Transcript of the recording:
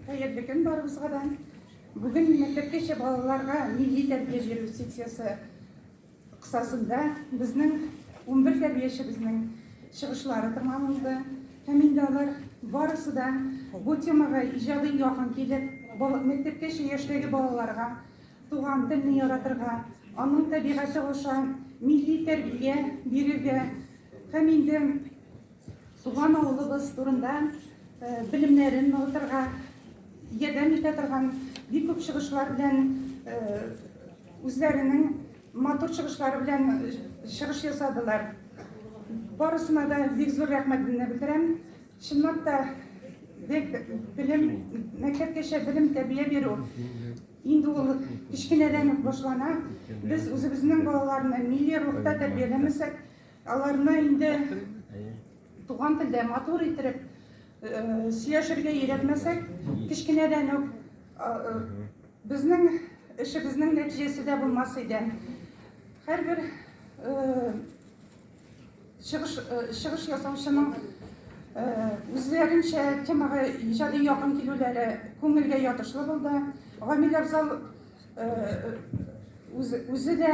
Хәерле көн барыбызга да. Бүген мәктәпкәчә балаларга милли тәрбия бирү секциясе кысасында безнең 11 тәрбиячебезнең чыгышлары тыңланылды. Һәм инде алар барысы да бу темага иҗади якын килеп, мәктәпкәчә яшьтәге балаларга туган телне яратырга, аның табигате аша милли тәрбия бирергә һәм инде Туган авылыбыз турында белемнәрен ныгытырга ярдәм итә торган бик күп чыгышлар белән үзләренең матур чыгышлары белән чыгыш ясадылар. Барысына да бик зур рәхмәтемне белдерәм. Чынлап та бек белем мәктәпкәчә белем тәрбия бирү инде ул кечкенәдән үк башлана. Без үзебезнең балаларны милли рухта тәрбияләмәсәк, Аларны инде туган телдә матур иттереп сөйләшергә өйрәтмәсәк, кечкенәдән үк безнең эшебезнең нәтиҗәсе дә булмас иде. Һәрбер чыгыш чыгыш ясаучының үзләренчә темага иҗади якын килүләре күңелгә ятышлы булды. Гамил Абзал үзе дә